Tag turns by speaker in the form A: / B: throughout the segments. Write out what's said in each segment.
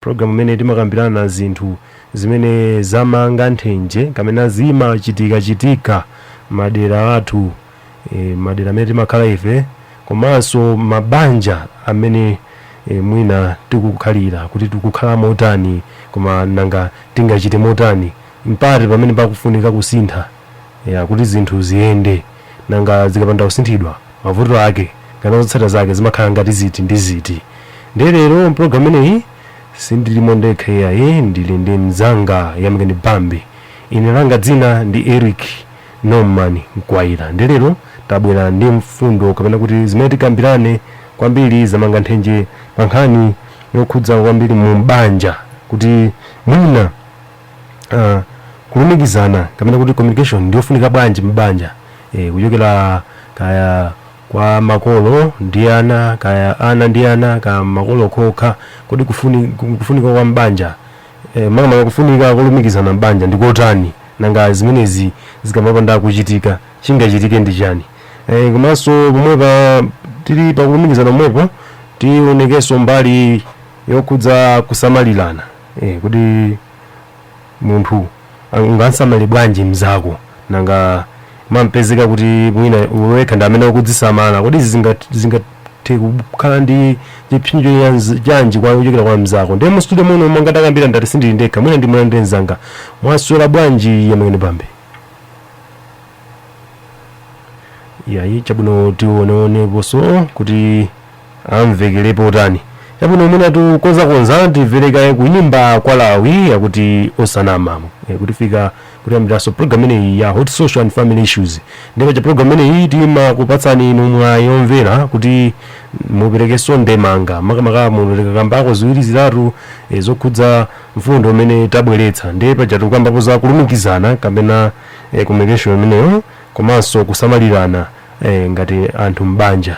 A: Program imene timakambirana zinthu zimene zamanga nthenje kapena zimachitika chitika madera athu e, madera amene timakhala ife komanso mabanja amene e, mwina tikukhalira kuti tikukhala motani koma nanga tingachite motani mpata pamene pakufunika kusintha e, kuti zinthu ziyende nanga zikapanda kusinthidwa mavuto ake kapena zotsata zake zimakhala ngati ziti ndi ziti ndiye lero mpulogalamu imeneyi sindilimo ndekha iyayi ndili ndi mzanga yamikani bambe ine langa dzina ndi eric norman mkwaira ndiye lero tabwera ndi mfundo kapena kuti zimene tikambirane kwambiri zamanga nthenje pa nkhani yokhudza kwambiri mu banja kuti mwina uh, kulumikizana kapena kuti communication ndiyofunika bwanji m'banja e, kuchokera kaya kwa makolo ndi ana kaya ana ndi ana kaya makolo okha kodi kufuni, kufunika kwa m'banja e, makamaka kufunika kulumikizana m'banja ndi kotani nanga zimenezi zikamapanda kuchitika chingachitike ndi chani e, komanso pomwepa tili pakulumikizana pomwepo tionekenso mbali yokhudza kusamalirana eh, kuti munthu ah, ungamsamalire bwanji mzako nanga mukapezeka kuti mwina wekha ndi amene ukudzisamala kodi izi zinga- zingathe kukhala ndi chipsinjo chanz- chanji kwa kuchokera kwa mzako ndiye mu studio muno monga takambira ndati sindili ndekha mwina ndi mwana ndi mzanga mwaswera bwanji yamikani bambe yayi chabwino tioneoneponso kuti amvekerepo tani chabwino mwina atukonzakonza timvereko kaye kuyimba kwa lawi yakuti osanama e, kutifikitsa kutiyambiraso program imeneyi ya hot social and family issues ndipo pa program imeneyi timakupatsani inu mwayi omvera kuti muperekenso ndemanga makamaka mukakambeko ziwiri zitatu e, zokhudza mfundo imene tabweretsa ndiye paja tikukambapo za kulumikizana kapena e, communication imeneyo komanso kusamalirana e, ngati anthu m'banja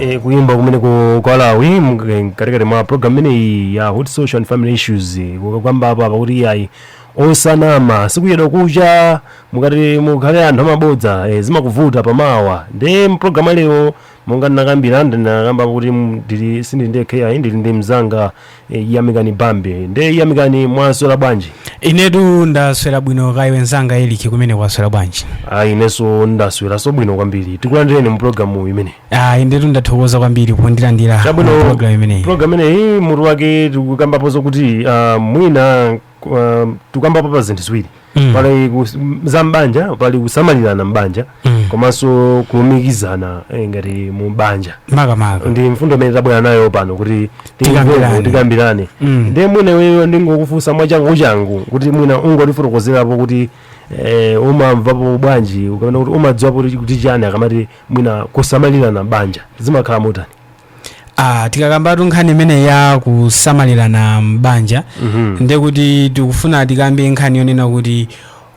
B: E, kuyimba
A: kumene ku kwa lawi mkatikati mwa program imeneyi ya hot social and family issues kukambapo apa kuti ayi osanama sikuyedwa kucha mukati mukhale anthu amabodza e, zimakuvuta pamawa nde mprogramu ya lero monga ndinakambira ndinakamba kuti m- ndili sindili ndekha ayi ndili ndi mzanga Eh, yamikani bambe nde yamikani mwaswera bwanji
C: inetu ndaswera bwino kaya iwe mzanga eric kumene waswera bwanji ayi inenso
A: ndasweranso bwino kwambiri tikulandireni mu programu imeneyi inetu
C: ndathokoza kwambiri pondilandira chabwino program imeneyi program imeneyi mutu
A: wake tikukambapo zokuti ah, mwina um, tukambapo pa zinthu ziwiri Mm. pali kus- m- za mbanja pali kusamalirana mbanja Mm. komanso kulumikizana eh, ngati mu banja makamaka ndi mfundo
C: imene tabwera nayo
A: pano kuti Tikambirane. timve, tikambirane Mm. ndiye mwina iweyo ndingokufunsa mwachangu changu kuti mwina ungotifotokozerapo kuti eh, umamvapo bwanji kapena kuti umadziwapo kuti kuti chani akamati mwina kusamalirana mbanja zimakhala motani
C: Ah, tikakambatu nkhani imeneyi ya kusamalirana m'banja Mhm. ndiye kuti tikufuna tikambe nkhani yonena kuti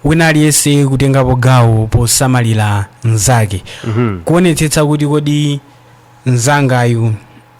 C: wina aliyense kutengapo gawo posamalira mnzake Mhm. kuonetsetsa kuti kodi mnzangayu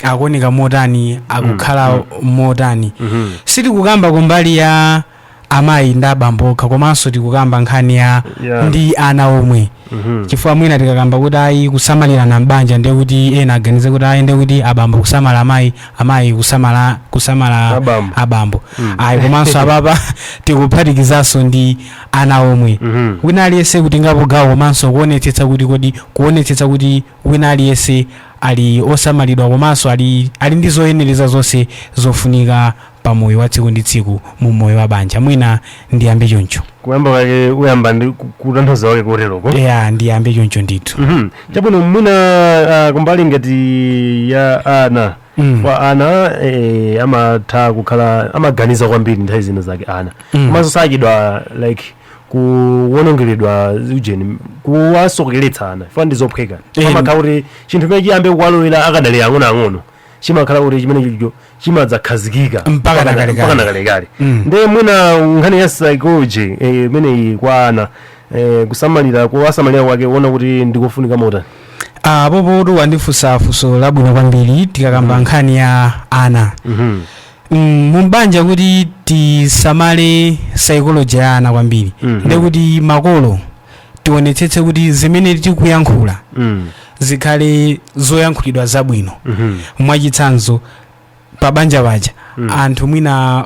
C: akuoneka motani akukhala motani Mhm. sitikukamba kumbali ya amayi ndi abambo okha komanso tikukamba nkhani ya Yeah. ndi ana omwe Mhm. chifukwa mwina tikakamba kuti ayi kusamalirana m'banja ndiye kuti ena aganize kuti ayi ndiye kuti abambo kusamala amayi amayi kusamala kusamala Abambo. abambo Mm. ayi komanso apapa tikuphatikizanso ndi ana omwe Mhm. wina aliyense kutengapo gawo komanso kuonetsetsa kuti kodi kuonetsetsa kuti wina aliyense ali osamalidwa komanso ali, ali ndi zoyenereza zonse zofunika pa moyo wa tsiku ndi tsiku mu moyo wa banja mwina ndiyambe choncho kuyamba
A: kwake uyamba ndi ku- kutanthauza wake koteroko ya ndiyambe choncho
C: ndithu Mhm. chabwino mwina
A: ah, kumbali ngati ya ana Mm. kwa ana eh, amatha kukhala amaganiza kwambiri nthawi zina zake ana Mm. komanso sachedwa like kuwonongeredwa ujeni kuwasokeretsa ana chifukwa ndi zophweka Eh, amakhala kuti chinthu chimene chiyambe kuwalowera akadali ang'onoang'ono chimakhala kuti chimene chija chimadzakhazikika Mpaka na kalekale. mpaka na kalekale Mm. nde mwina nkhani ya psychology eh, imeneyi kwa ana eh, kusamalira kuwasamalira kwake uona kuti ndikofunika motani Ah, apopotu
C: wandifunsa funso labwino kwambiri tikakamba nkhani ya ana Mhm. Mm, mumbanja kuti tisamale psychology ya ana kwambiri Mhm. ndekuti makolo tionetsetse kuti zimene tikuyankhula Mm. zikhale zoyankhulidwa zabwino Mhm. mwachitsanzo pa banja paja Mm. anthu mwina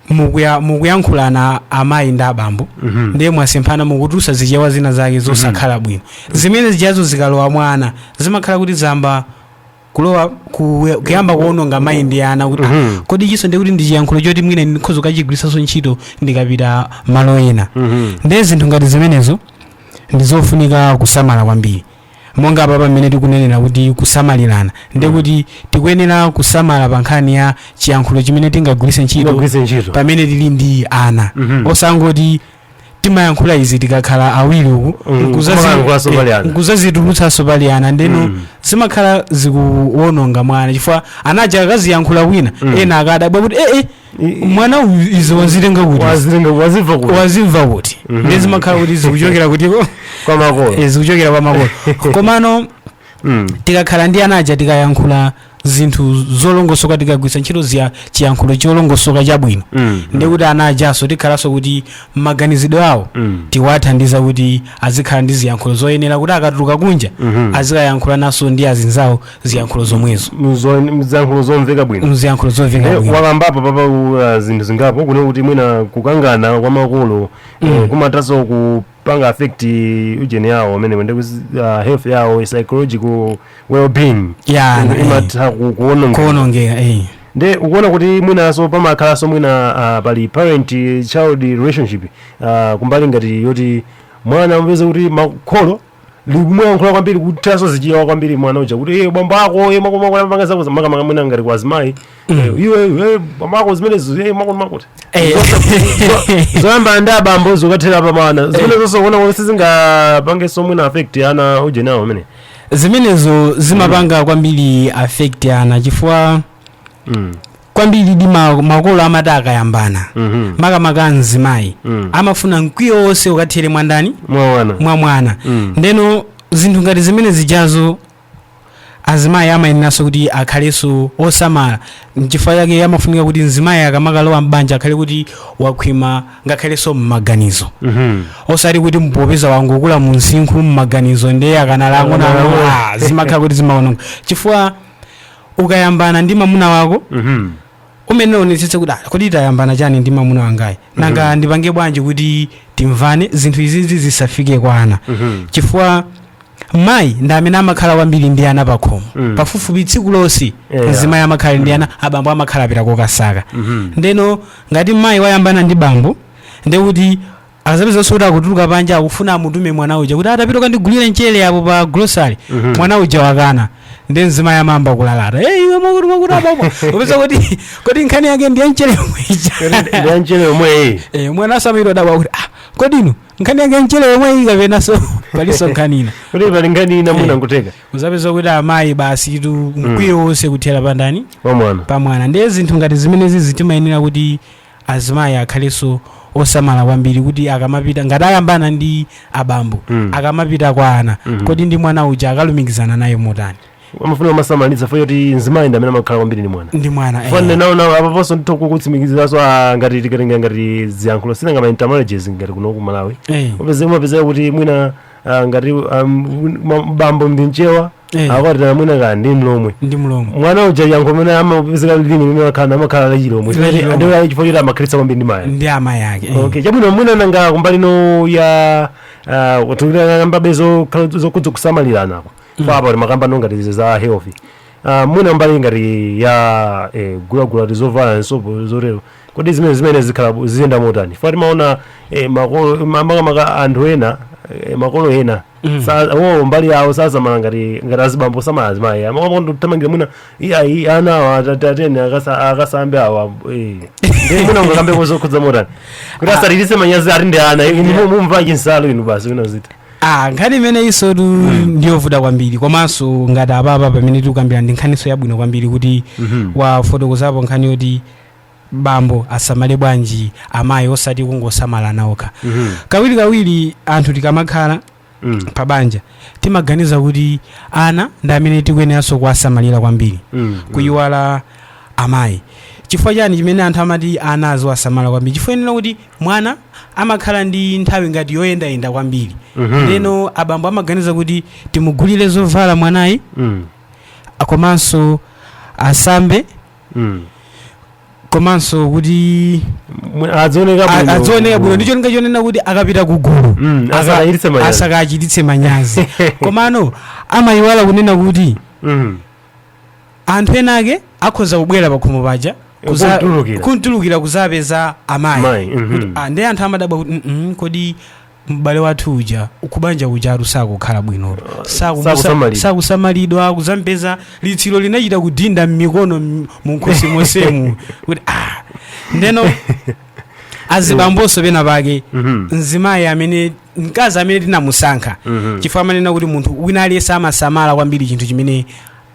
C: mukuya- mukuyankhulana amayi ndi abambo Mhm. ndiye mwasemphana mukutulutsa zichewa zina zake zosakhala bwino zimene zijazo zikalowa mwana zimakhala kuti zamba kulowa ku, kuyamba kuononga mind ya ana kuti Mhm. kodi ichinso ndikuti ndi chiyankhulo choti mwina ndikhoza kukachigwiritsanso ntchito ndikapita malo ena Mhm. ndiye zinthu ngati zimenezo ndi zofunika kusamala kwambiri monga apapa mmene tikunenera kuti kusamalirana ndiye kuti tikuyenera kusamala pa nkhani ya chiyankhulo chimene tingagwiritse ntchito Tingagwiritse ntchito. pamene tili ndi ana Mhm. osangoti timayankhula izi tikakhala awiri uku Mm, nkuzazi- kumayankhulanso eh, pali ana. nkuzazitulutsanso pali ana ndeno Mm. zimakhala zikuwononga mwana chifukwa anaja akaziyankhula kwina Mm. ena akadabwa kuti ee I- mwana uyu izi wazitenga kuti wazitenga wazimva kuti wazimva kuti Mhm. ndiye zimakhala kuti zikuchokera kuti kwa makolo eh, zikuchokera kwa makolo komano mm. tikakhala ndi ana aja tikayankhula zinthu zolongosoka tikagwiritsa ntchito ziya chiyankhulo cholongosoka chabwino Mm. ndi kuti ana ajanso tikhalanso kuti maganizidwe awo Mm. tiwathandiza kuti azikhala ndi ziyankhulo zoyenera kuti akatuluka kunja Mhm. azikayankhula naso ndi azinzawo ziyankhulo zomwezo Mzo-
A: ziyankhulo zomveka bwino ziyankhulo zomveka Eh, bwino wakambapo papa uh, zinthu zingapo kunena kuti mwina kukangana kwa makolo eh, kumatanso ku panga affect ujeni yawo amenewo ndi kuzi- ah, health yawo psychological well-being Yeah, Ina- eh. imatha ku- kuononga kuonongeka eh. nde ukuona kuti mwinaso pamakhalanso mwina ah, pali parent child relationship ah, kumbali ngati yoti mwana amapeza kuti kholo likumuyankhula kwambiri kuthanso zichiyawa kwambiri mwana uja kuti iwe bambo ako iwe makomakopanga zako makamaka mwina ngati kwa azimayi Eh, iwe iwe bambo ako zimenezo eh, makuti makuti Eh. zoyambana ndi abambo zokathera pamwana zimenezonso kuona kuti sizingapange so mwina affect ana ujeni yawo amene zimenezo
C: zimapanga kwambiri affect ana chifukwa Mm. kwambiri di ma- makolo amati akayambana Mhm. makamaka mzimayi Mm. amafuna mkwiyo wonse ukathere mwandani mwa mwana mwa mwana Mm. ndeno zinthu ngati zimene zijazo azimayi amayeneranso kuti akhalenso osamala nchifukwa chake amafunika kuti mzimayi akamakalowa m'banja akhale kuti wakhwima ngakhalenso m'maganizo osati kuti mpopeza wangokula mu msinkhu m'maganizo ndiye akanali ang'ono ang'ono, ah, zimakhala kuti zimaononga chifukwa ukayambana ndi mamuna wako umayenera uonetsetse kuti "Ah, kodi tayambana chani ndi mamuna wangayi nanga ndipange bwanji kuti timvane zinthu izizi zisafike kwa ana chifukwa mayi ndi amene amakhala kwambiri ndi ana pakhomo Mm. pafupifupi tsiku lonse Yeah. mzimayi amakhala ndi ana abambo amakhala apita kokasaka ndeno ngati mayi wayambana ndi bambo ndekuti azapezaso kuti akutuluka panja akufuna amutume mwana uja kuti tapita ukandigulire mchere apo pa grocery Mhm. mwana uja wakana nde mzimayi amayamba kulalata hey, iwe mwakuti mwakuti apapo upeza kuti kodi nkhani yake ndi ya mchere yomwe ija ndi ya mchere yomweyi Eh, mwana azamayamba kudabwa kuti ah, kodi nkhani yake mchere yomwe iyi kapenaso paliso nkhani ina kuti pali nkhani
A: ina mwina nkutheka uzapeza kuti amayi
C: basi tu mkwiyo wonse kuthera pandani pamwana pamwana
A: ndiye zinthu ngati
C: zimenezi zimayenera kuti azimayi akhalenso osamala kwambiri kuti akamapita ngati ayambana ndi abambo Mm. akamapita kwa ana Mhm. kodi ndi mwana uja akalumikizana naye motani amafuna kumasamalitsa
A: chifukwa choti mzimayi ndi amene amakhala kwambiri ndi mwana ndi mwana eh. fanne nawo nawo apaponso nditha kutsimikiziranso ah, ngati tikatenga ngati ziyankhulo sinanga ma intermarriages ngati kuno ku malawi Eh. upeze umapezeka kuti mwina ah, ngati um, ma- bambo ndi mchewa Eh. akwatira mwina kaya ndi mlomwe ndi mlomwe mwana uja chiyankhulo chimene amapezeka lilime limene wakhala amakhala la chilomwe La chilomwe. ndiye chifukwa choti amakhalitsa kwambiri ndi mayi ndi amayi ake eh. okay chabwino mwina nanga kumbali no ya uh, tikukambabe zokhudza kusamalirana ako apapa timakamba no ngati izi za health uh, mwina mbali ngati ya eh, gulagula tizovala sopo zotero Kodi zimene zimene zikhala ziyenda motani? Chifukwa timaona eh, makolo ma- makamaka anthu ena eh, makolo ena sa- wo mbali yawo sasamala ngati ngati azibambo samala azimayi amangoti nditamangira mwina iyayi ana awa atati atene akasa- akasambe awa eh. Ndiye mwina ungakambepo zokhudza motani kuti asatichititse manyazi ati ndi ana inu mu- mumvala chinsalu inu basi wina ziti ah nkhani
C: imene isotu ndiyovuta kwambiri komanso ngati apapa pamene tikukambira ndi nkhaniso yabwino kwambiri kuti wafotokozapo nkhani yoti bambo asamale bwanji amayi osati kungosamala ana okha Mhm. kawirikawiri anthu tikamakhala Mm. pa banja timaganiza kuti ana ndi amene tikuyeneranso kuwasamalira kwambiri Mm. kuyiwala amayi chifukwa chani chimene anthu amati ana aziwasamala kwambiri chifukwa chonena kuti mwana amakhala ndi nthawi ngati yoyendayenda kwambiri Mhm. ndeno abambo amaganiza kuti timugulire zovala mwanayi Mm. komanso asambe Mm. komanso kuti Mwe- adzioneka a- bwino adzioneka bwino ndi cholinga chonena kuti akapita ku gulu Mm, aka- asakachititse manyazi. asakachititse manyazi komano amayiwala kunena kuti Mm. anthu ena ake akhoza kubwera pakhomo paja kuza- Kuntulukira. kuntulukira kuzapeza amayi Mayi, mhm. Kuti, ah, ndiye anthu amadabwa kuti "Mm, mm, kodi m'bale wathu uja kubanja kujatu sakukhala bwinotu Sakumusa- Sakusamalidwa. sakusamalidwa kuzampeza litsiro linachita kudinda m'mikono m- munkhosi monsemu kuti ah ndeno azibambonso pena pake Mhm. mzimayi amene mkazi amene tinamusankha Mhm. chifukwa amanena kuti munthu wina aliyense amasamala kwambiri chinthu chimene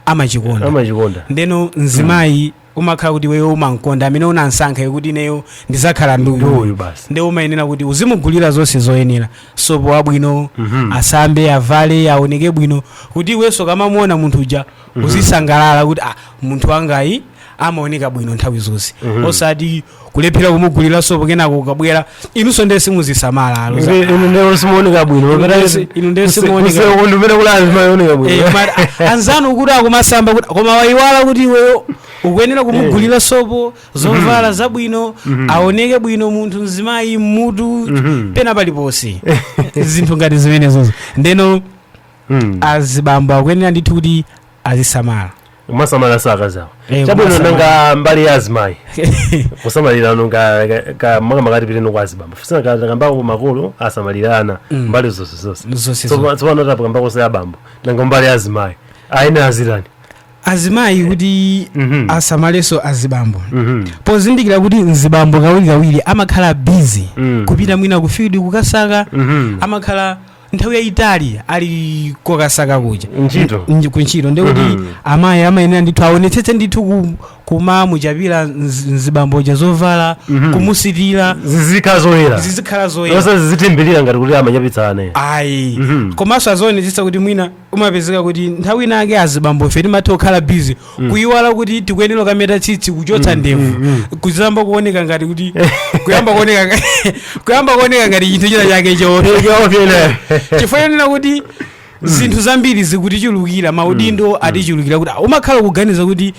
C: amachikonda amachikonda ndeno mzimayi umakhala kuti iweyo umamkonda amene unamsankhayo kuti ineyo ndizakhala ndi Ndi uyu uyu basi. nde umayenera kuti uzimugulira zonse zoyenera sopo wabwino Mhm. asambe avale aoneke bwino kuti iwenso ukamamuona munthu uja uzisangalala kuti ah, munthu wangayi amaoneka bwino nthawi zonse osati kulephera kumugulira sopo kenako ukabwera inunso ndiye simuzisamala alo za- inu ndiye simuoneka bwino Inu ndiye si- inu ndiye simuoneka bwino. kusekundu umene kuli anthu maoneka Eh, bwino koma a- anzanu kuti akumasamba kuti- koma wayiwala kuti iweyo ukuyenera kumugulira sopo zovala zabwino aoneke bwino munthu mzimayi mmutu pena paliponse zinthu ngati zimenezozo ndeno Mm. azibambo akuyenera ndithu kuti azisamala
A: kumasamala za akazi awo Eh, chabwino kumasamala. nanga
C: mbali ya
A: azimayi kusamalirana ka- ka- ka- makamaka tipiteno kwa azibambo fusina takambako makolo asamalira ana mbali zonse zonse Zonse Tsopa- tsopano tapakambako za abambo nanga mbali ya azimayi ayene azitani
C: azimayi kuti Mhm. asamalenso azibambo Mhm. pozindikira kuti mzibambo kawirikawiri amakhala bizi Mm. kupita mwina ku field kukasaka Mhm. amakhala nthawi yayitali ali kokasaka kuja Ntchito. Nji- kuntchito ndekuti Mhm. amayi amayenera ndithu aonetsetse ndithu ku- kumamuchapira mzi- mzibamboja zovala Mhm. kumusitira zizikhala zoyera zizikhala zoyera osati zizithimbirira ngati kuti
A: amachapitsane ayi Mhm.
C: komanso azionetsetsa kuti mwina umapezeka kuti nthawi inayake azibambo ife timatha kukhala busy kuyiwala kuti tikuyenera kukameta tsitsi kuchotsa ndevu kuzayamba kuoneka ngati kuti kuyamba kuoneka nga- kuyamba kuoneka ngati chinthu china chake choopsa chifukwa chonena kuti zinthu zambiri zikutichulukira maudindo atichulukira kuti ah, umakhala kuganiza kuti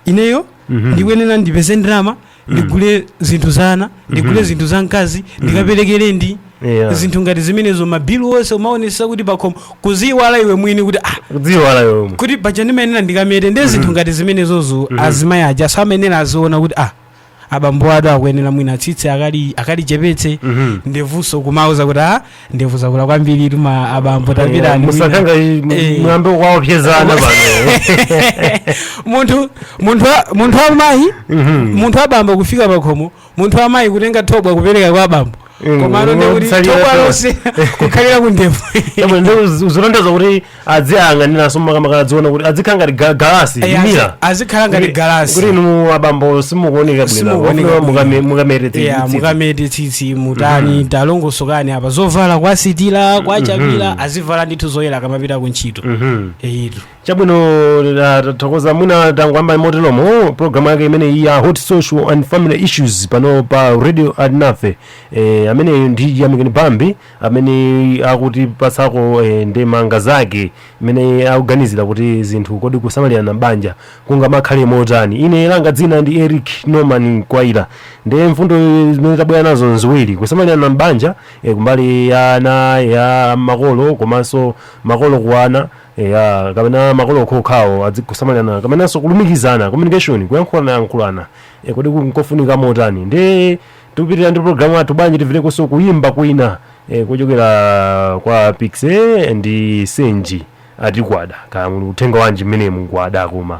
C: ineyo Mhm. ndikuyenera ndipeze ndalama ndigule zinthu za ana ndigule zinthu za mkazi ndikapereke rent Yeah. zinthu ngati zimenezo mabilu onse umaonesa kuti pakhomo kuziyiwala iwe mwini kuti ah kudziyiwala iwe
A: kuti paja
C: ndimayenera ndikamete ndi zinthu ngati zimenezozo azimayi ajanso amayenera aziona kuti ah abambowatu akuyenera mwina tsitsi akali akalichepetse Mhm. ndevunso kumauza kuti a ndevu zakula kwambiritu ma abambo tapitani musakanga Eh.
A: mwambe waopyezana
C: pano munthu munthu wa- munthu wamayi Mhm. munthu wabambo kufika pakhomo munthu wamayi kutenga thobwa kupereka kwa abambo komano ndekuti Kutsalira thobwa lonse kukhalira ku ndevu Yabwe, ndi uz-
A: uzilondezo kuti adziyang'aniranso makamaka adziona kuti adzikhala ngati ga- galasi Eh, mirror azi- azikhala ngati Kuti- galasi.
C: kuti inu abambo
A: simukuoneka Simukuoneka bwino bwino. mukame- mukamete
C: tsitsi. mukamete tsitsi mutani talongosokani apa zovala kuwasitira kuwachapira azivala ndithu zoyera akamapita ku ntchito Mhm. eyitu
A: chabwino ah, tathokoza mwina tangoyamba moteromo programu yake imeneyi ya hot social and family issues pano pa radio alinafe eh, ameneyo ndi yamikani bambi amene akutipatsako eh, ndemanga zake mmene akuganizira kuti zinthu kodi kusamalirana m'banja kungamakhale motani ine langa dzina ndi eric norman kwaira nde mfundo zimene tabwera nazo nziwiri kusamalirana m'banja eh, kumbali ya ana ya makolo komanso makolo kwa ana eya kapena makolo okhaokhawo adzikusamalirana kapenanso kulumikizana communication kuyankhulana yankhulana e, kodi ku- nkofunika motani ndi tikupitirira ndi programu yathu bwanji timverekonso kuyimba kwina e, kuchokera kwa Piksy ndi senji ati kwada kaya muli uthenga wanji mmene mungwada koma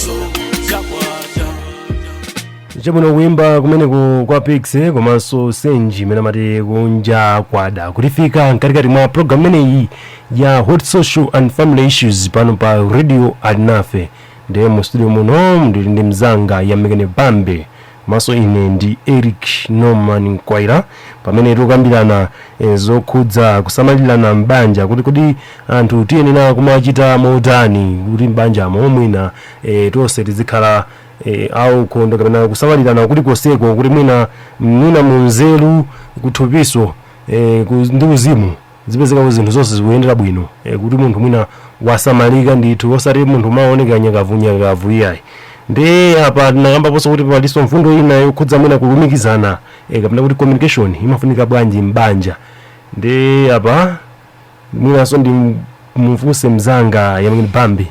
A: chabwino kuimba kumeneku kwa Piksy komanso senji imene amati kunja kwada kutifika mkatikati mwa programu imeneyi ya hot social and family issues pano pa radio alinafe ndiye mu studio muno ndili ndi mzanga yamikani bambe komanso ine ndi eric norman mkwaira pamene tikukambirana eh, zokhudza kusamalirana m'banja kuti kodi anthu tiyenera kumachita motani kuti m'banjamo mwina eh, tonse tizikhala eh, aukhondo kapena kusamalirana kulikonseko kuti mwina mwina munzeru kuthupiso eh, ku- ndi uzimu zizipezeka kuti zinthu zonse zikuyendera bwino e, kuti munthu mwina wasamalika ndithu osati munthu kumaoneka nyakavunyakavu iyayi ndi apa tinakambaponso kuti palinso mfundo ina yokhudza mwina kulumikizana e, kapena kuti communication imafunika bwanji m'banja ndi apa mwinanso ndimufunse mzanga yamikani bambe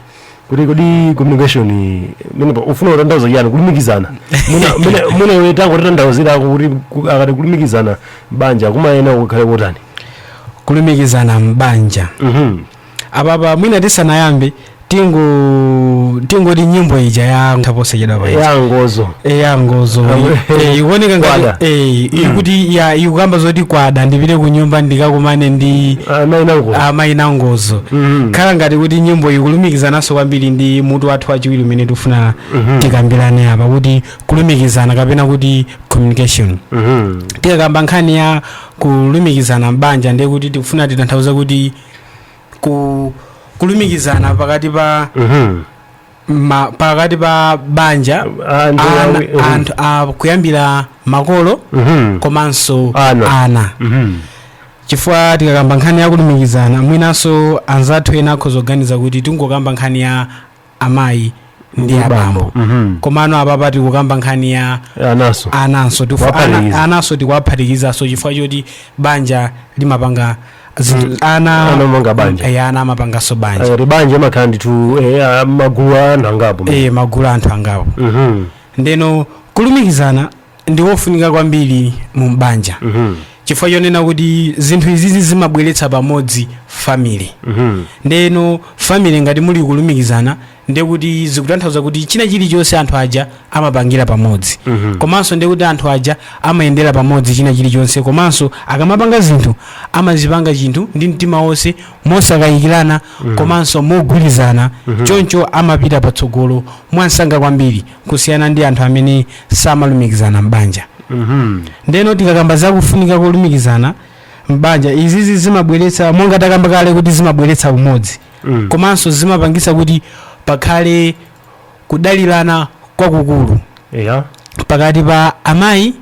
A: kuti kodi communication imeneyi ikufuna kutanthauza chiyani kulumikizana Mwina- mwina- mwina iwe tangotitanthauzirako kuti ku- akati kulumikizana m'banja kumayenera kukhale kotani
C: kulumikizana m'banja Mhm. apapa mwina tisanayambe tingo tingoti nyimbo ija yatha posachedwapa ya ngozo eya ngozo Awe. Eh, ikuoneka Kwada. ngati eh, ikuti ya ikukamba zoti kwada ndipite ku nyumba ndikakumane ndi amayi nango amayi nangozo Mhm. ikukhala ngati kuti nyimbo ikulumikizananso kwambiri ndi mutu wathu wachiwiri umene tifuna tikambirane apa kuti kulumikizana kapena kuti communication Mhm. tikakamba nkhani ya kulumikizana m'banja ndiye kuti tikufuna titanthauza kuti ku kulumikizana pakati pa Mhm. ma, pakati pa banja Ah, ndi ana, awi- mhm. anthu ah, kuyambira makolo Mhm. komanso Ana. ana. Mhm. chifukwa tikakamba nkhani ya kulumikizana mwinanso anzathu ena akhoza kuganiza kuti tingokamba nkhani ya amayi ndi abambo Mhm. komano apapa tikukamba nkhani ya ananso ananso Kuwaphatikiza. ananso tikuwaphatikizaso chifukwa choti banja limapanga Zinthu- ana Ana amanga banja. Eh, ana amapanganso banja Eh, m'banja mumakhala
A: ndithu eh, ah, magulu a anthu angapo Eh, magulu a anthu angapo
C: Mhm, ndeno kulumikizana ndi wofunika kwambiri mu m'banja mhm, chifukwa chonena kuti zinthu izizi zimabweretsa pamodzi family mhm. ndeno family ngati muli kulumikizana ndiye kuti zikutanthauza kuti china chilichonse anthu aja amapangira pamodzi komanso ndiye kuti anthu aja amayendera pamodzi china chilichonse komanso akamapanga zinthu amazipanga chinthu ndi mtima wonse mosakayikirana komanso mogwirizana choncho amapita patsogolo mwansanga kwambiri kusiyana ndi anthu amene samalumikizana m'banja ndeno tikakamba za kufunika kolumikizana m'banja izizi zimabweretsa monga takamba kale kuti zimabweretsa umodzi mm. komanso zimapangisa kuti pakhale kudalirana kwakukulu yeah. pakati pa amayi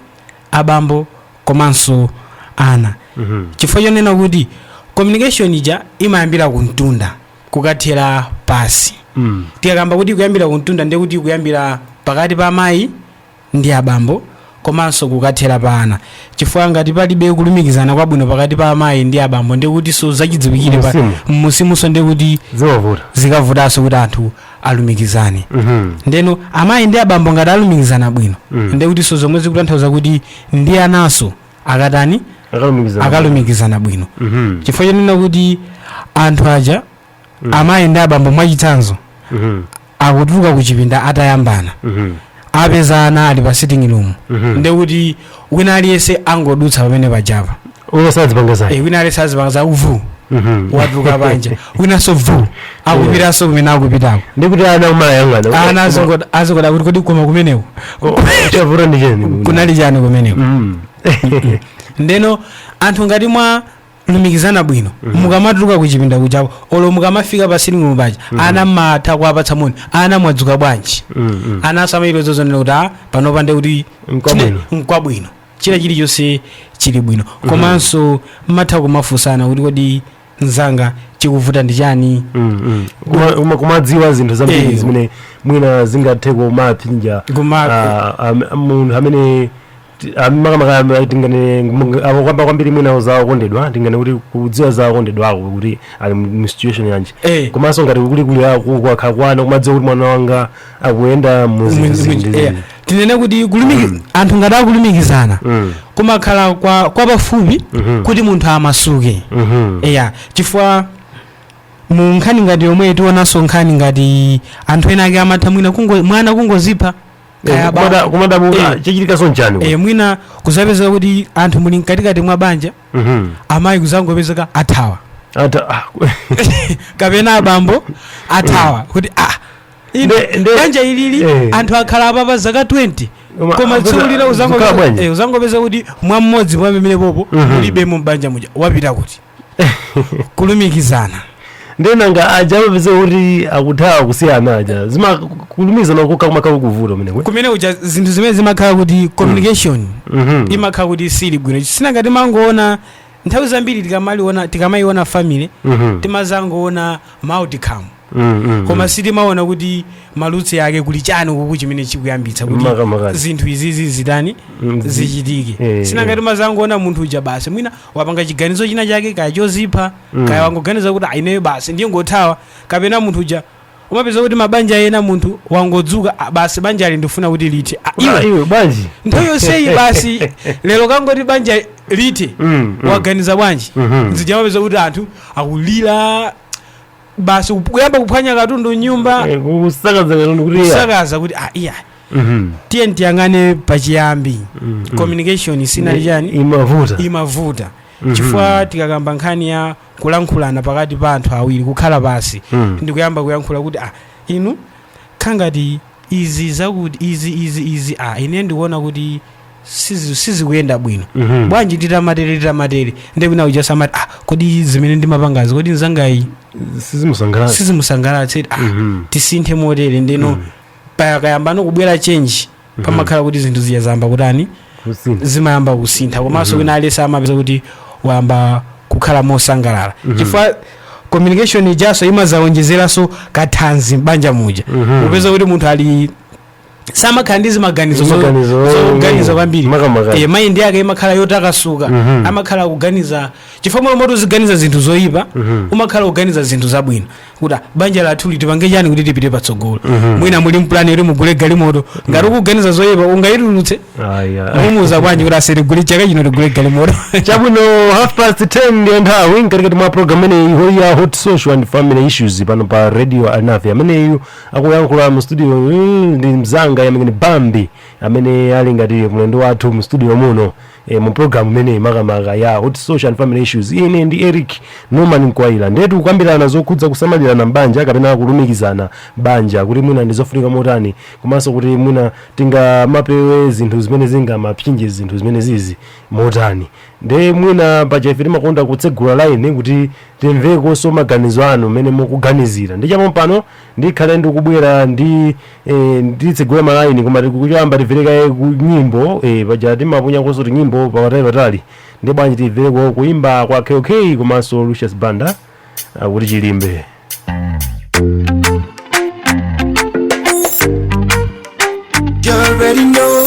C: abambo komanso ana mm -hmm. chifukwa chonena kuti communication ija imayambira kuntunda kukathera pasi mm. tikakamba kuti kuyambira kuntunda ndekuti kuyambira pakati pa amayi ndi abambo komanso kukathera pa ana chifukwa ngati palibe kulumikizana kwabwino pakati pa amayi ndi abambo ndiye kuti so zachidziwikire pa- Mmusimu. mmusimunso ndiye kuti zikavuta zikavutanso kuti anthu alumikizane Mhm. ndeno amayi ndi abambo ngati alumikizana bwino Mm. ndiye kuti so zomwe zikutanthauza kuti ndi ananso akatani akalumikizana akalumikizana bwino Mhm. chifukwa chonena kuti anthu aja Mm. amayi ndi abambo mwachitsanzo Mhm. akutuluka ku chipinda atayambana Mhm. apeza ana ali pa sitting room Mhm. ndekuti wina aliyense angodutsa pamene pajapa uyo sadzipanga
A: zake e, wina aliyense
C: azipanga za uvu Mhm. watuluka panja winanso vu akupitanso kumene akupitako ndikuti ana
A: akumayang'ana ana
C: azingo- azingodabwa kuti kodi koma kumeneko chavuta ndi chani kunali chani kumeneko Mm. ndeno anthu ngati mwa lumikizana bwino mukamatuluka kuchipinda kuchako olo mukamafika pa sitting room paja ana matha kuwapatsa moni ana mwadzuka bwanji ananso amachita kuonera kuti a panopa nde kuti Mkwabwino. chine- mkwabwino china chilichonse chili bwino komanso matha kumafunsana kuti kodi mzanga chikuvuta ndi chani Kuma- kuma-
A: kumadziwa zinthu zambiri Eh. zimene mwina zingathe kumamupsinja Kuma- ah, am- munthu amene Ti- ah, makamaka ah, tingane mung- abo kwamba kwambiri mwina za okondedwa tingane kuti kudziwa za okondedwa ako kuti ali mu- mu situation yanji Eh. komanso ngati kuli kuli ako kwakhala kwa ana kumadziwa kuti mwana wanga akuyenda mu zinthu Mwinzi- mwinzi- zindi eh, zindi. tinene kuti
C: kulumiki anthu ngati akulumikizana Mm. kumakhala kwa kwa pafupi Mhm. kuti munthu amasuke Mhm. eya chifukwa mu nkhani ngati yomwe tionanso nkhani ngati anthu ena ake amatha mwina kungo, mwana kungozipha Kaya ba- Kumada- kumadabuka
A: Eh. chichitikaso nchani e, mwina
C: kuzapezeka kuti anthu muli mkatikati mwa banja Mhm. amayi kuzangopezeka athawa Ata- ah, kapena abambo athawa kuti ah ine Nde- nde- banja ilili eh. anthu akhala apa pa zaka 20 Koma- koma tsiku lina zikhala uzangopezeka bwanji? eh, kuzangopezeka kuti mwa mmodzi pamene popo Mhm. mulibemo mbanja muja wapita kuti kulumikizana nde
A: nanga aja amapezeka kuti akuthawa kusiyana aja zimakulumikizana kokha kumakhala kuvuta kumeneko kumene uja zinthu
C: zimene zimakhala kuti communication Mhm. imakhala kuti sili bwino sinanga timangoona nthawi zambiri tikamaliona tikamaiona family Mhm. timazangoona outcome Mm, mm, koma sitimaona kuti ma roots ake kuli chani kuku chimene chikuyambitsa kuti Makamaka. zinthu izizi zitani Mm, zi- zichitike eh, sinangati eh. mazangoona munthu uja basi mwina wapanga chiganizo china chake kaya chozipha Mm. kaya wangoganiza kuti ah ineyo basi ndingothawa kapena munthu uja umapeza kuti mabanja ena munthu wangodzuka "Ah, basi banja ili ndifuna kuti lithe Ah, Iwe, iwe iwe
A: bwanji nthawi
C: yonseyi basi lero wangoti banja lithe Mm, mm. waganiza bwanji Mhm. nde uja umapeza kuti anthu akulira basi kup- kuyamba kuphwanya katundu mnyumba Eh, kusakaza katundu kuti iya. kusakaza kuti ah, iya Mhm. tiyeni tiyang'ane pachiyambi Mhm. communication sinali chani imavuta imavuta Mhm. chifukwa tikakamba nkhani ya kulankhulana pakati pa anthu awiri kukhala pansi Mhm. ndikuyamba kuyankhula kuti ah inu nkhani ngati izi zakuti izi izi izi ah ine ndikuona kuti sizi- sizikuyenda bwino Mhm. bwanji titamatere titamatere nde wina uja azati ah, kodi zimene ndimapangazi kodi nzangayi sizimusangalatsa sizimusangalatsa ah, Mhm. tisinthe motere ndeno pakayambano kubwera chenji pamakhala kuti zinthu zija zayamba kutani kusintha zimayamba kusintha komanso wina aliyense amapeza kuti wayamba kukhala mosangalala chifukwa communication ijaso imazawonjezeranso kathanzi m'banja muja Mhm. upeza kuti munthu ali samakhala ndi zimaganizo zo- Zimaganizo, zoganiza eh, kwambiri makamaka. Eh, maindi yake imakhala yotakasuka Mhm. amakhala akuganiza chifukwa mmalo moti uziganiza zinthu zoyipa Mhm. umakhala kuganiza zinthu zabwino kuti ah, banja lathu li tipange chani kuti tipite patsogolo Mhm. mwina muli ndi pulani yoti mugule galimoto ngati ukuganiza zoyipa ungayitulutse Aya. umuuza bwanji kuti aise tigule chaka chino tigule galimoto
A: chabwino half past 10 ndiyo nthawi mkatikati mwa programu imeneyi ya hot social and family issues pano pa radio anafe ameneyu akulankhula mu studio mm, ndi mzanga Yamin Bambi amene ali ngati mlendo wathu mu studio muno e, mu program imeneyi makamaka ya hot social and family issues ine ndi Eric Norman Mkwayila nde tikukambirana zokhudza kusamalirana mbanja kapena kulumikizana mbanja kuti mwina ndizofunika motani komanso kuti mwina tingamapewe zinthu zimene zingamapinge zinthu zimene zizi motani nde mwina paja ife timakonda kutsegula line kuti timvekonso maganizo anu mmene mukuganizira nde chapompano ndikhale ndikubwera ndi eh, nditsegule malaini koma choyamba timvere kaye ku nyimbo eh, paja timaponyakonso tinyimbo pakatali patali nde bwanji timvereko kuimba kwa kk komanso Lucius Banda akuti chilimbe
B: You already know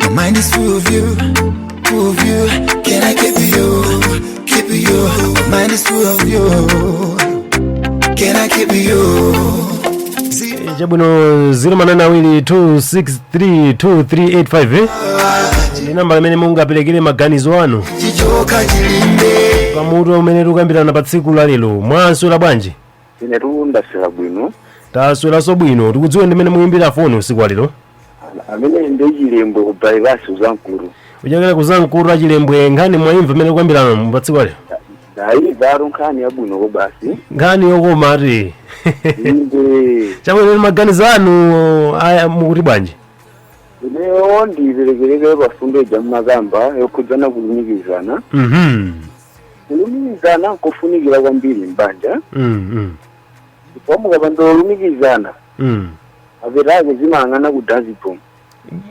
B: My mind is full of you, full of you.
A: Can I keep you, keep you? My mind is full of you. Can I keep you? Zero. chabwino 0mananawiri2632385 eh? ndi nambala imene mungaperekere maganizo anu Chichoka chilimbe.
B: pamutu umene
A: tikukambirana pa tsiku la lero mwaswera bwanji inetu
D: ndaswera bwino
A: tasweranso bwino tikudziwe ndi amene mukuyimbira foni usiku walero amene
D: ndi chilembwe ku bypass uzankulu uchokera kuzankulu
A: achilembwe nkhani mwayimva imene tikukambirana patsiku lalero ndayimvatu
D: nkhani yabwino kobasi nkhani yokoma
A: eti inde chabwino ndi maganizo anu aya mukuti bwanji ineyo
D: ndiperekereke pamfundo ija mmakamba yokhudzana kulumikizana mhm kulumikizana nkofunikira kwambiri m'banja Mm, mm, chifukwa mukapanda kulumikizana mm. mapeto ake zimayang'ana ku dazibomu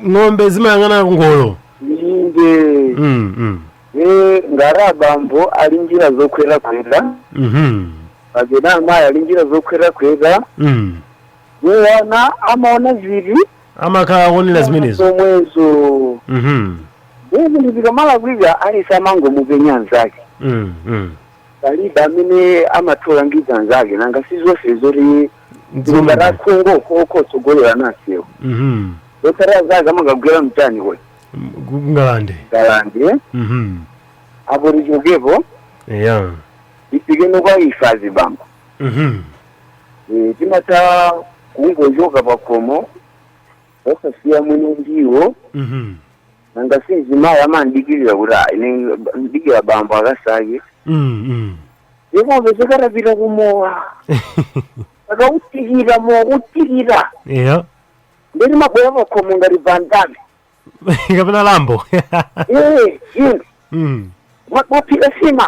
D: ng'ombe
A: zimayang'ana kungolo inde
D: Mm, mm, e ngati abambo ali njira zokhotakhota mhm, kapena amayi ali njira zokhotakhota mm. iwo ana amaona zili amakhala
A: akuonera zimenezo
D: zomwezo Mhm. ndiye zinthu zikamalakwika aliyense amangomupenya mnzake Mm, mm. palibe amene amatha kulangiza anzake nanga si zonse zoti Dziko lomwe. ngati akhungu okhaokha kutsogolerana njira Mhm. zotsatira zake amakagwera mchani kodi M- ku- kungalande
A: ngalande
D: eh? Mhm. apo tichokapo eya
A: ifike
D: no kwa ife azibambo Mhm. Eh, timatha kungochoka pa khomo osasiya mwina ndiwo Mhm. nanga si mzimayi amadikirira kuti "Ah, ine ndidikira bambo akasake Mm, mm. ndiye pobe zikatero apita kumowa akautikita mowa kutikita
A: Eya. ndiye amabwera
D: pa khomo ngati van damme Kapena
A: rambo. ee inu
D: Mm. mwaphika nsima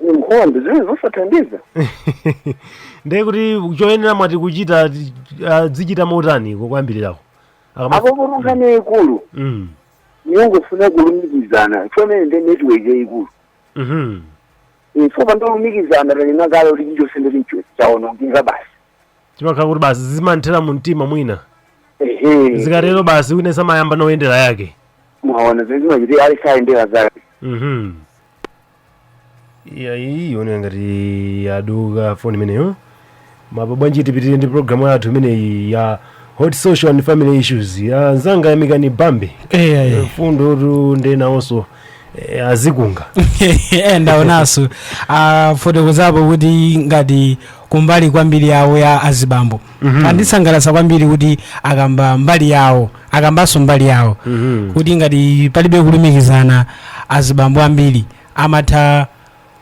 A: Ni nkhondo
D: zimene
A: zosathandiza. ndiye kuti choyenera mwati kuchita ti- azichita motani koyambirirako Akama- Apopotu
D: nkhani yaikulu Mm. yongofuna kulumikizana chomene ndi network yaikulu. Mhm. Ife popanda kulumikizana tanena kale kuti chichonse ndi chinachilichonse chaonongeka basi. chimakhala
A: kuti basi zimanthera mu mtima mwina Ehe. zikatero basi wina amayamba no kuyendera yake Mwaona zimene
D: zimachitika aliyense ayendera zake. Mhm.
A: iyayi ikuoneka ngati yaduka foni imeneyo komabe bwanji tipitirire ndi programu yathu imeneyi ya hot social and family issues anzanga yamikani bambe eyayi mfundotu ndiye nawonso eh,
C: azikunga ndaonanso afotokozapo kuti ngati kumbali kwambiri yawo ya azibambo andisangalatsa kwambiri kuti akamba mbali yawo akambanso mbali yawo Mhm. kuti ngati palibe kulumikizana azibambo ambiri amatha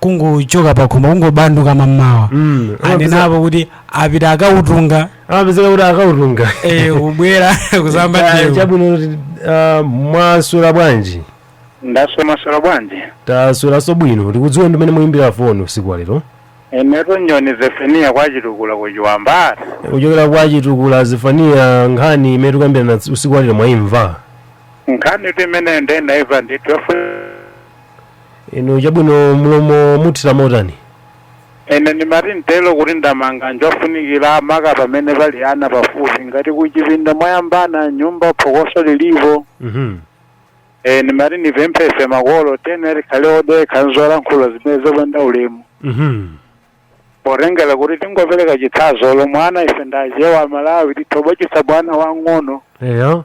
C: kungochoka pakhomo kungobanduka mammawa Mm. anenapo kuti apita akautunga amapezeka
A: kuti akautunga eh, kubwera
C: kusamba Ah, ndiwo chabwino
A: kuti, ah, mwaswera bwanji ndaswera
E: mwaswera bwanji tasweranso bwino
A: tikudziweni ndi mene muyimbira foni usiku wa lero Inetu
E: Nyoni Zefaniya kwa Chitukula ku Chiwamba ati. kuchokera
A: kwa chitukula zefaniya nkhani imene tikuyambirana ts- usiku walero mwayimva
E: Nkhanitu imeneyo ndaimva
A: ndithu. inu chabwino mlomo muthira motani
E: Ine ndimati nditero kuti ndamanga njofunikira maka pamene pali ana pafupi ngati kuchipinda mwayambana mnyumba phokoso lilipo. Mhm. Eh, nimati nipemphe ife makolo tere tikhale odekha nzolankhula zimene zopanda ulemu Mhm. potengera kuti tingopereka chitsanzo la mwana ife ndachewa amalawi tithobochitsa mwana wang'ono Eyo.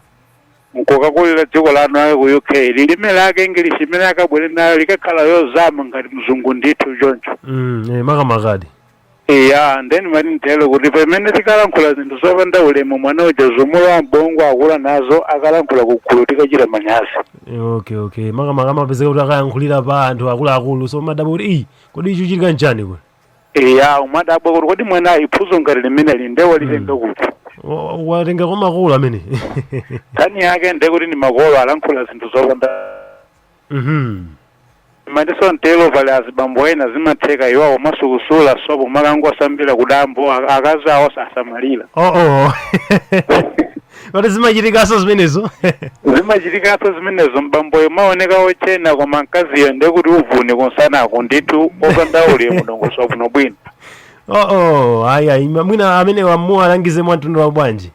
E: nkukakulira dziko lanu ayo ku uk lilime lake english imene akabwere nayo likakhala yozama ngati mzungu ndithu choncho Mm, eh, makamakadi. Eya, nde ndimati nditero kuti pamene tikalankhula zinthu zopanda ulemu mwana uja zimulowa m'bongo akula nazo akalankhula kugulu tikachita manyazi okay okay
A: makamaka amapezeka kuti akayankhulira pa anthu akuluakulu so umadabwa kuti iyi kodi chikuchitika nchani kwe eya
E: umadabwa kuti kodi mwana phunzo ngati limeneli nde walitenga kuti Wa- wa- watenga
A: kwa makolo amene nkhani
E: yake nde kuti ndi makolo alankhula zinthu zopanda Mhm. Ndimatinso nditero pali azibambo ena zimatheka iwowo amasukusula sopo amakangosambira kudambo a- akazi awo sasamalira Oh oh.
A: Kodi zimachitikaso zimenezo?
E: zimachitikaso zimenezo bamboyo amaoneka otchena koma mkaziyo ndekuti uvuni kumsanako ndithu opanda ulemu ndi ongosowa bwino bwino Oh oh.
A: Ayi ayi mwina amene tiwalangize mwa mtundu wa bwanji.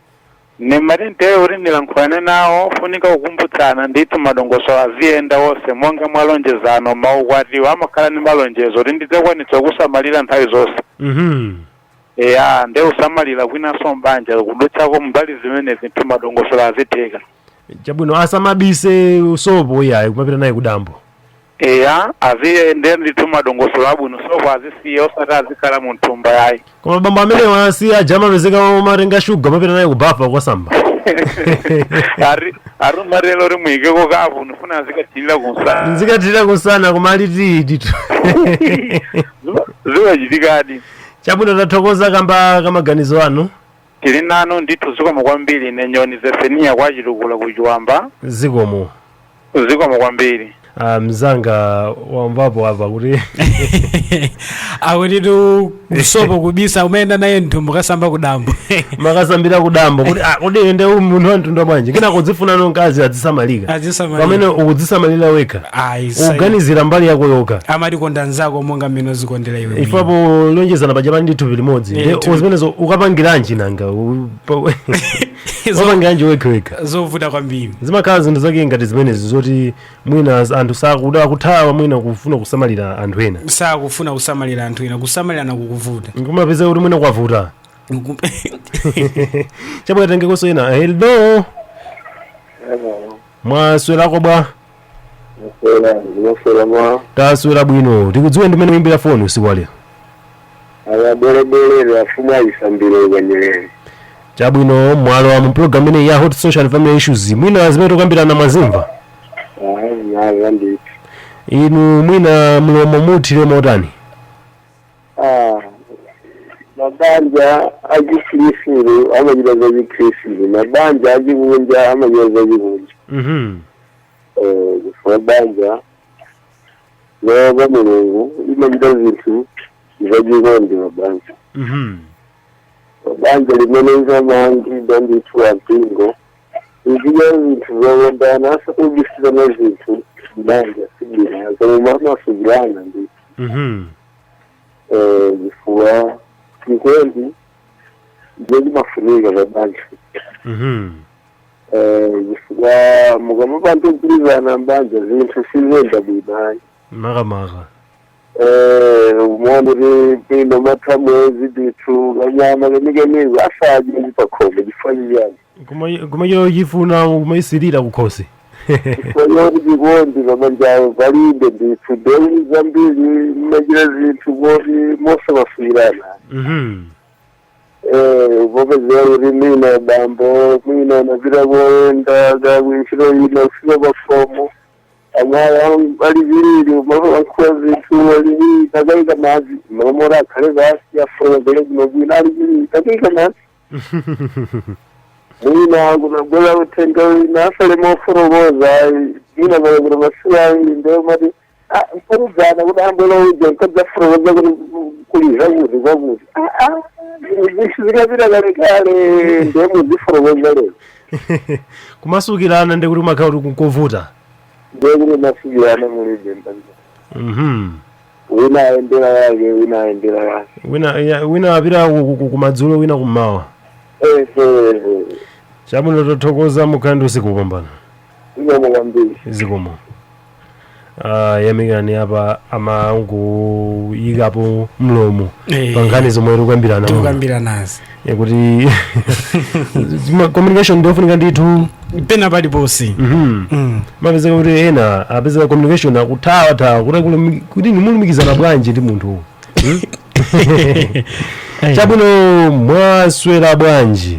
A: Ndimati
E: nditero kuti ndilankhulane nawo ofunika kukumbutsana ndithu madongosolo aziyenda onse monga mwa lonjezano maukwatiwa amakhala ndi malonjezo kuti ndidzakwanitsa kukusamalira nthawi zonse Mhm. eya nde kusamalira kwinanso mbanja kudutsako mbali zimenezi ndithu madongosolo azitheka Chabwino
A: asamabise sopo iyayi kumapita naye kudambo. Eya
E: aziyende ndithu madongosolo abwino sopo azisiya osati azikhala mu mthumba yayi koma bambo amenewa
A: si aja amapezeka amatenga shuga amapita naye kubafa kukasamba Ari-
E: aruma lero rimuyikeko kapu nifuna ndizikathirira kumsana
A: nzikathirira kumsana koma alidi ndithu
E: zimachitikadi chabwino
A: tathokoza kamba ka maganizo anu Tili
E: nanu ndithu zikomo kwambiri ine nyoni Zefeniya kwa Chitukula ku Chiwamba.
A: zikomo Zikomo
E: kwambiri. Ah, mzanga
A: wamvapo apa kuti
C: akutitu sopo kubisa umayenda naye mthumba kasamba kudambo
A: makasambira kudambo kuti ah, kodi nde uyu munthu wa mtundu bwanji kena kudzifunano mkazi adzisamalika azisamalira pamene ukudzisamalira wekha ayi sai- uganizira mbali yako yokha amatikonda
C: nzako monga mmene uzikondera iwe mwini. ife polonjezana
A: paja pali ndi thupi limodzi Eh, Nde thupi- zimenezo ukapangiranji nanga U- pa- Zo- ukapangiranji wekhewekha zovuta kwambiri
C: zimakhala zinthu zake ngati
A: zimenezi zoti mwina z- anthu sakuda akuthawa mwina kufuna kusamalira anthu ena sakufuna
C: kusamalira anthu ena kusamalirana kukuvuta nkumapeza kuti
A: mwina kwavuta Nku- chabwino titengekonso ena hello Hello. mwaswerako bwa Maswera ndimaswera mwa taswera bwino tikudziwe ndimene muimbira foni usiku wa lero ababolebole
D: afumu ayisambire ukanyerere chabwino
A: mwalowa mu program imeneyi ya hot social and family issues mwina zimene tikukambirana mwazimva ayi nazo ndithu inu mwina mlomo muuthire motani
F: Ah, mabanja achikhirisitu amachita zachikhirisitu mabanja achikunja amachita zachikunja Mhm. Eh, chifukwa banja loopa mulungu limachita zinthu zachikondi mabanja Mhm. banja limene linamangidwa ndithu ampingo Zichita zinthu zokondana osabisirana zinthu m'banja sibwino koma mumamasukirana ndi Mhm. eh, chifukwa chikondi ndiye chimafunika pa banja Mhm. Eh, chifukwa mukamapanda kugwirizana m'banja zinthu siziyenda bwino ayi makamaka
A: Eh,
F: umaona kuti mwina amatha mwezi ndithu kanyama kenikeniko asadye pakhomo chifukwa chiyani Kuma- kumachita chifuna
A: kumasirira kukhosi kwayoti
F: chikondi pabanjapo palibe ndithu ndiye zambiri mmachita zinthu koti mosamasukirana Mhm. Eh, kupezeka kuti mwina bambo mwina anapita koyenda kakuntchito ina kufika pakhomo amayi ali phee mamalankhula zinthu aliviri takaika madzi mamora akhale basi afuna afotokoze bwino aliviri takaika madzi mwina kunabwera uthenga wina asafotokoze ayi mwina pale kuti masiku awiri ndiye mati mparuzana kuti ambwera uja nkudzafotokoza kuti kuuza kuti kwakuti zinthu zitapita kalekale ndiye muzifotokoza lero
A: kumasukirana ndekuti umakhala kuti kunkovuta ndiye
F: kuti umasukirana mulibe mbanja Mhm. wina ayendera yake wina
A: ayendera yake wina ya- wina apita ku- ku- ku- kumadzulo wina kummawa eee chabwino tothokoza mukhale ndi usiku wopambana zikomo kwambiri zikomo Ah, yamikani apa amangoyikapo mlomo Eh, pankhani zomwe tikukambirana muno. tikukambiranazi Eh, kuti ma- communication ndiofunika ndithu pena paliponse
C: Mhm.
A: Mm. amapezeka kuti ena apezeka communication akuthawathawa kuti akulumi- kuti ndimalumikizana bwanji ndi munthu Eh. chabwino mwaswera bwanji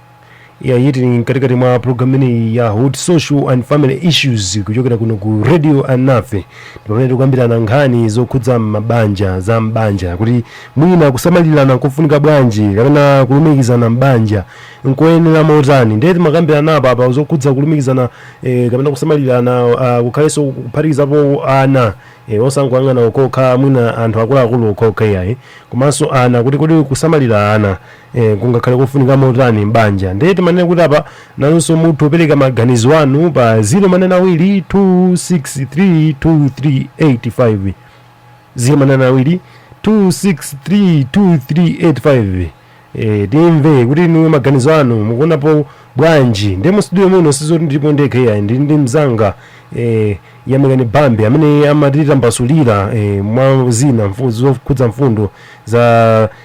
A: ya yiti ni mkatikati mwa programu imeneyi ya hot social and family issues kuchokera kuno ku radio anafe pamene tikukambirana nkhani zokhudza mabanja za mbanja kuti mwina kusamalirana nkofunika bwanji kapena kulumikizana mbanja nkoyenera motani ndiye timakambirana apa apa zokhudza kulumikizana eh, kapena kusamalirana uh, kukhalenso kuphatikizapo ana eh, osangoyang'ana okokha mwina anthu akuluakulu okokha iyayi komanso ana kuti kodi kusamalira ana Eh, kungakhale kofunika motani m'banja ndiye timanena kuti apa nanunso mutha kupereka maganizo anu pa 0 manena awiri 2632385 0 manena awiri 2632385 eh, timve kuti inu maganizo anu mukuonapo bwanji ndiye mustudio muno sizoti ndilipo ndekha iyayi ndili ndi mzanga eh, yamikani bambi amene amatitambasulira eh, mwa zina mfu- zokhudza mfundo za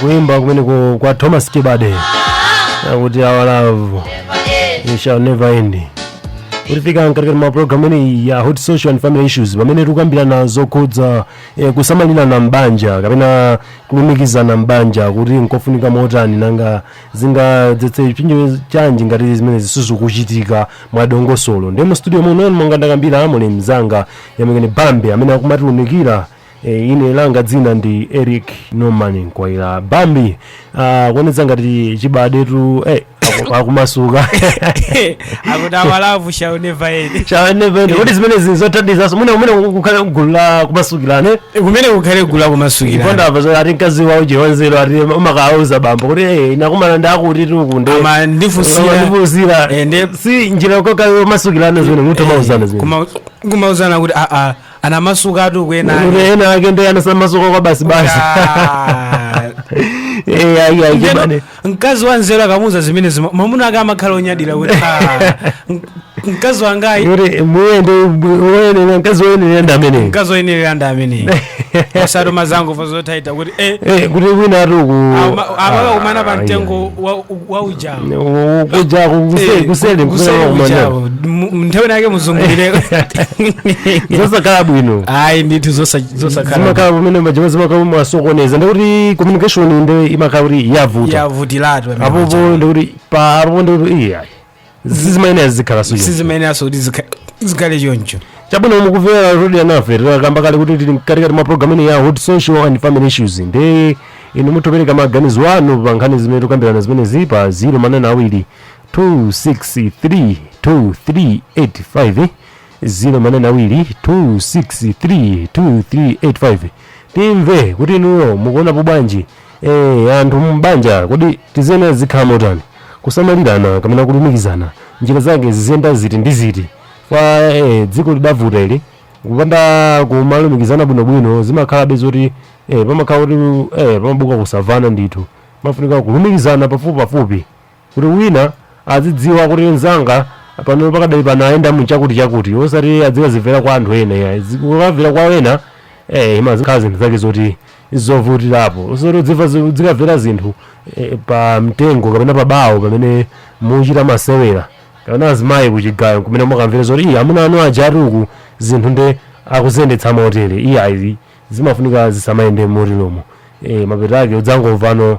G: kuimba kumeneko kwa
A: thomas chibade akuti our love it shall never end kutifikitsa mkatikati mwa programu imeneyi ya hot social and family issues pamene tikukambirana zokhudza eh, kusamalirana m'banja kapena kulumikizana m'banja kuti nkofunika motani nanga zingadzetse chipsinjo chanji ngati zimenezi sizikuchitika mwadongosolo ndiye mu studio muno monga ndakambira muli mzanga yamikani bambi amene akumatiunikira e, ine langa dzina ndi eric norman nkwayira bambi ah, ikuonetsa ngati chibadetu eh, aku- akumasuka
C: akuti our love shall never end shall never end kuti
A: zimenezi nzothandizaso muone kumene kukhale gulu la kumasukirana kumene kukhale
C: gulu la kumasukirana ponena apa zoti ati mkazi
A: wa Joe wanzeru ati amakawauza bambo kuti eh ine ndakumana ndi akuti akuti ndiye amandifusira
C: ndifusira Eh, ndi-
A: si njira yokayo yomasukirana zimenezo mutha kumauzana zimenezo Kuma- kumauzana
C: kuti aa anamasuka atu kuti kuenani ena ake ndi
A: anasamasuka kwa basi basi Ah. eh ayi ayi
C: chimane mkazi wa nzeru akamuuza zimenezi ma- mwamuna ake amakhala onyadira kuti "Ah, m- mkazi wangayi kuti
A: muyende woyenera mkazi woyenera ndi ameneyo mkazi oyenerera ndi ameneyi osati
C: muzangomva zothaitha kuti eh, Eh, kuti wina
A: ati uku ama-
C: amakakumana pa mtengo wa- wa ujawo kuja
A: Eh, kuseli kuseli kwa ujawo.
C: M- nthawi inake muzungulire
A: zosakhala bwino ayi ndithu zosa-
C: Zosakhala. zimakhala pamene
A: majama zimakhala mwasokoneza ndikuti communication nde imakhala kuti yavuta yavutilatu pamene apopo paja. ndikuti pa apopo ndikuti iya sizimayenera zikhale so sizimayeneranso kuti zikha-
C: zikhale choncho chabwino mukumvera
A: Radio Alinafe takamba kale kuti tili mkatikati mwa programu ino ya hot social and family issues nde inu mutopereka maganizo anu pa nkhani zimene tukambirana zimene zili pa 0 manane awiri 263 2385 0 manane awiri 263 2385 timve kuti inuyo mukuonapo bwanji eh anthu mbanja kodi tizena zikhala motani kusamalirana kapena kulumikizana njira zake ziziyenda ziti ndi ziti kwa eh, dziko lidavuta ili kupanda kumalumikizana bwinobwino zimakhalabe zoti eh, pamakhala kuti eh, pamabuka kusamvana ndithu mafunika kulumikizana pafupipafupi kuti wina azidziwa kuti mzanga pano pakadali pano ayenda muchakuti chakuti osati adzikazimvera kwa anthu ena ya zikukamvera kwa ena eh imazikhala zinthu zake zoti zovutirapo osati udzimva zi- udzikamvera zinthu eh, pa mtengo kapena pa bawo pamene muchita masewera kapena azimayi kuchigayo kumene mukamvera zoti "Ii, amuna anu aja atuku zinthu nde akuziyendetsa motere iyayi zimafunika zisamayende moteromo eh mapeto ake udzangomvano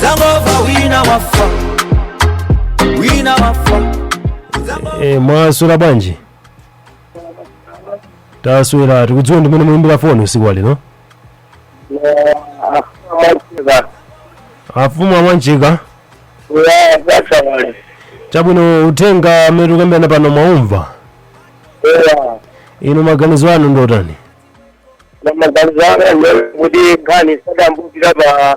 A: Zangomva wina wafa Wina wafa Zangomva e, mwaswera bwanji taswera tikudziweni amene muyimbira foni usiku wa lero afumu a Mwanjika chabwino uthenga amene tikukambirana pano mwaumva inu maganizo anu ndotani
F: maganizo anga kuti nkhani sadambukira pa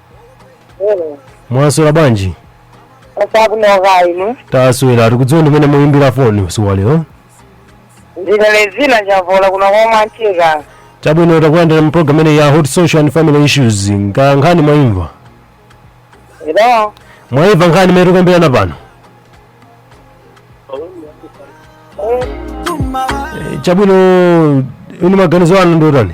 A: Hello. mwaswera bwanji Taswera
H: bwino kaya inu.
A: taswera tikudziweni amene muyimbira foni usiku wa lero Ndine
H: Lezina Njavola kuno kwa Mwanjika. chabwino takulandira
A: mu program ineyi ya hot social and family issues nga nkhani
H: mwayimva Hello.
A: mwayimva nkhani imene tikukambirana pano Eh, chabwino inu maganizo anu ndiotani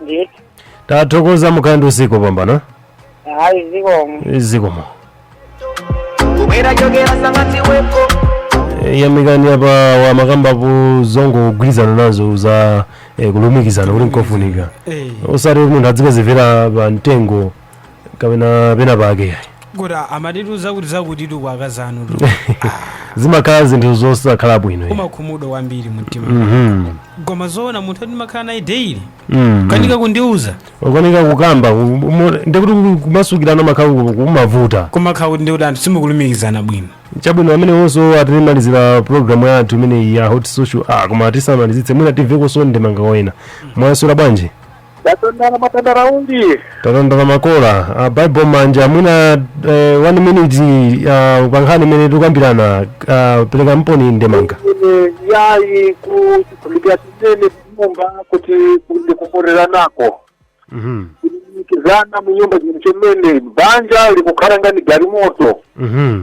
A: ndithu tathokoza mukhale ndi usiku wopambana
H: hayi zikomo zikomo
I: kubwera chokera sangati weko Eh,
A: Yamikani apa amakambapo zongogwirizana nazo za eh, kulumikizana kuti nkofunika Eh. osati munthu adzikazimvera pa mtengo kapena pena pake yayi
C: kuti amatituza kuti zakutitu kwa akazi anu tu
A: zimakhala zinthu zosakhala bwino yayi. umakhumudwa kwambiri
C: mumtima Mhm. koma zoona munthu ati ndimakhala naye daily Mm. kanika kundiuza ukanika
A: kukamba ku- umo- ndikuti ku- kumasukirana kumakhala ku- kumavuta kumakhala kuti ndikuti
C: anthu simukulumikizana bwino chabwino pameneponso
A: atimalizira programu yathu imeneyi ya hot social ah koma tisamalizitse mwina timvekonso ndemanga kwa ena mwaswera bwanji
E: Tatandala mwatandala uli. tatandala
A: makola uh, bible manja mwina uh, one minute uh, pankhani imene tukambirana uh, perekaniponi ndemanga Ine yayi
E: kulumikizana mu nyumba kuti nkhwakukhumbikwira nako. Mhm, Kulumikizana mu nyumba chomene banja likukhala ngati galimoto. mhm.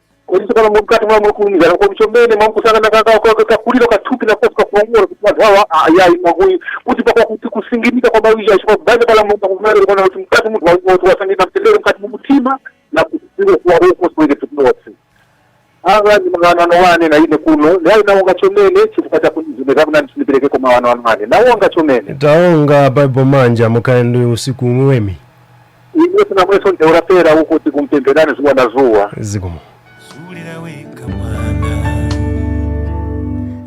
E: kodi tsopano mumkati mwa mwakulumikizana kodi chomene mukusangika kakuliro ka thupi nakosi kakulongora kuti anthu awa ayayi mwakuyi kuti pakuti kusinginika kwa mawija chifukwa kubanja pala mulungu akumanena kuona kuti mkati munthu wangati wasangika mtendere mkati mumutima na kudziko kuwa ukoswere tukunotsi ava ndi mawano ano wane na ine kuno nayi nawonga chomene chifukwa cha kuti zimene zakunani siniperekeko mawano ano wane nawonga chomene taonga bible
A: manja mukhale ndi usiku uwemi
E: Iye sina mweso nteura pera huko tikumupemberani zuwa na zuwa. zikomo
A: Zulira weka mwana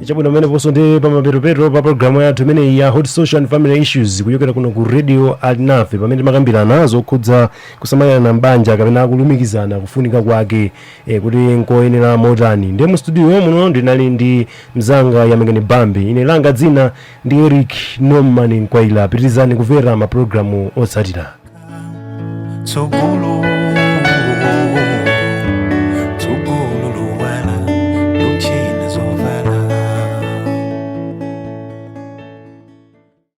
A: chabwino pameneponso ndi pamapeto-peto pa programu yathu imeneyi ya hot social and family issues kuchokera kuno ku radio alinafe pamene timakambirana zokhudza kusamalirana mbanja kapena kulumikizana kufunika kwake eh, kuti nkoyenera motani ndiye mu studio muno ndinali ndi mzanga yamikani bambi ine langa dzina ndi eric norman mkwaila pitirizani kumvera mapulogalamu otsatira tsogolo tsogolo luwala luchina zovala